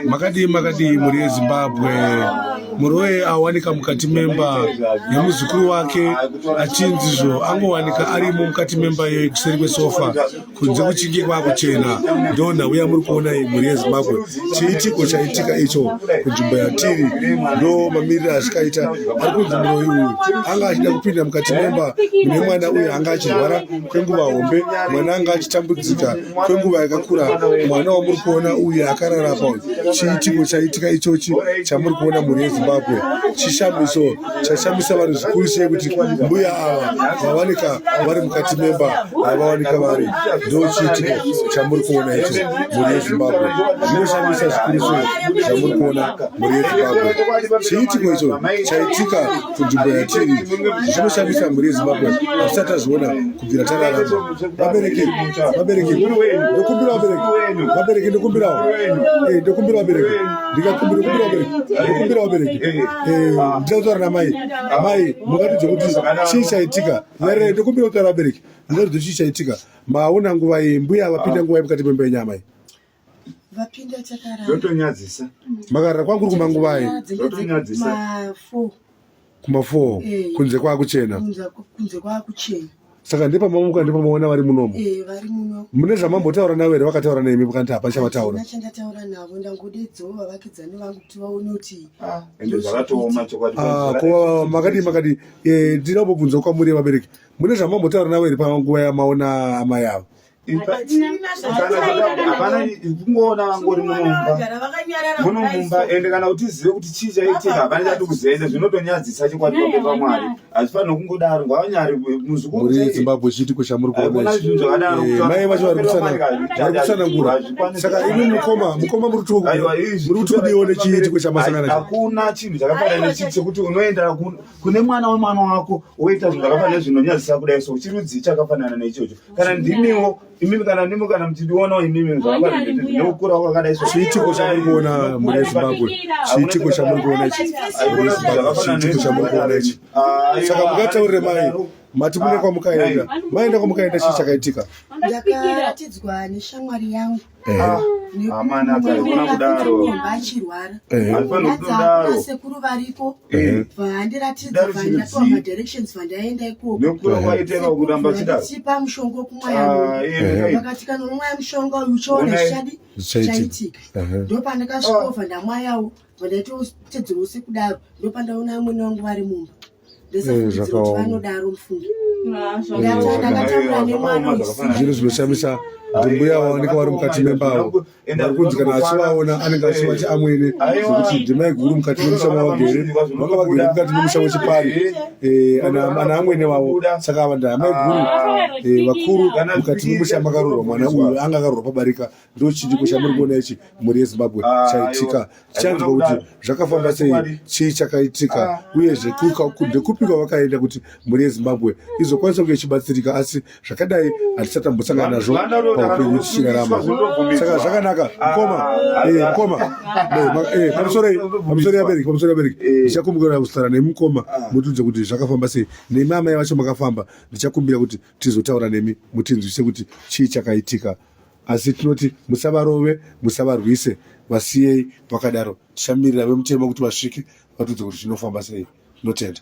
makadii makadii mhuri yezimbabwe mhuri weye awanika mukati memba nemuzukuru wake achinzizvo angowanika arimo mukati memba iyoyi kuseri kwesofa kunze kuchinge kwakuchena ndo nhau yamuri kuona iyi mhuri yezimbabwe chiitiko chaitika icho kunzvimbo yatiri ndo mamiriro azvikaita ari kunzi muroi uyu anga achida kupinda mukati memba mune mwana uyu anga achirwara kwenguva hombe mwana anga achitambudzika kwenguva yakakura mwana wamuri kuona uyu akarara pa chiitiko chaitika ichochi chamuri kuona mhuri yezimbabwe chishamiso chashamisa vanhu zvikuru sei kuti mbuya ava vavanika vari mukati memba avawanika vari ndo chiitiko chamuri kuona icho mhuri yezimbabwe zvinoshamisa zvikuru sei zvamuri kuona mhuri yezimbabwe chiitiko icho chaitika kunzvimbo yatiri zvinoshamisa mhuri yezimbabwe hatisati tazviona kubvira tararama vabereki vabereki ndokumbira vabereki vabereki ndokumbirawo eh, ndokumbira vabereki ndikakumbira kumbira vabereki ndokumbira vabereki eh, eh, ah. ndida kutaura namai ah. mai mungatidze kuti chii chaitika yare ah. ndokumbira kutaura vabereki mungatidze chii chaitika maona nguva iyi mbuya vapinda nguva yemukati memba yenyamai vapinda chakarara zvotonyadzisa makarara kwakuri kumanguvai zvotonyadzisa kuma 4 eh. kunze kwakuchena kunze kwakuchena saka ndepamamuka ndepamaona vari munomo eh, vari muno mune zvamambotaura navo here vakataura nemi kana ti hapana chavataura chandataura navo ndangodedzoo vavakidzani vangu kuti vaone kuti ah, ende zvakatooma chokwadi ah, ko makadii makadii eh, ndinombobvunza kwamuri vabereki mune zvamambotaura navo here panguva yamaona amai avo kungoona vangori munomumbamumumba ende kana kuti zive kuti chii chaitika hapana chati kuzoenda zvinotonyadzisa chokwadi kwake pamwari hazvifanire kungodaro ngavanyari muzukuzimbabwe chiti kwechamuri kuonamai eh, vacho vari kutsanangura saka imi mukoma mukoma muri kuti kudii one chiitiko chamasangana hakuna chinhu chakafanana nechii chekuti unoenda kune mwana wemwana wako woita zvinhu zvakafanana zvinonyadzisa kudai so chirudzii chakafanana neichocho kana ndimiwo imimi kana ndimi kana muchindionawo imimi zvaakaneukura kwakadai so chiitiko chamuri kuona mune zimbabwe chiitiko chamuri kuona ichi chiitiko chamuri kuona ichi ah, saka mukataurire mai mati mune ah, kwamukaenda maenda kwamukaenda chii ah. chakaitika ndakaratidzwa neshamwari yangu amana akaona kudaro achirwara anofanira kudaro sekuru variko vandiratidza vandatoa ma directions vandaenda ikoko nokura kwaiteka kuramba chida chipa mushonga kumwaya vakati kana umwaya mushonga uyu uchaona chadi chaitika ndopandakasvikova ndamwayawo vandaitotedzerose kudaro ndopandaona amwene wangu vari mumba zvinhu zvinoshamisa kuti mbuya vaoneka vari mukati memba avo vari kunzi kana achivaona anenge achivati amwene zvekuti ndimai guru mukati memusha mavagere vanga vagere mukati memusha wechipani eh, ana amwene vavo saka ava ndaamai guru eh, vakuru mukati memusha makarorwa mwana uyu anga akarorwa pabarika ndo chidipo chamuri kuona ichi mhuri yezimbabwe ah, chaitika tichanzwa kuti zvakafamba sei chii chakaitika ah. uyezve ndekupi kwavakaenda kuti mhuri yezimbabwe izokwanisa kunge ichibatsirika asi zvakadai hatisatambosangana nazvo paupenyu tichirarama saka zvakanaka ah, mkoma eh, mkoma eh, eh, pamusorei pamusorei abereki pamusorei abereki ndichakumbukira kuzotara nemi mkoma mutiudze kuti zvakafamba sei nemi amai vacho makafamba ndichakumbira kuti tizotaura nemi mutinzwise kuti chii chakaitika Asi tinoti musavarove, musavarwise, vasiyei vakadaro. Tichamirira vemutemo kuti vasvike vatiudze kuti zvinofamba sei. Tinotenda.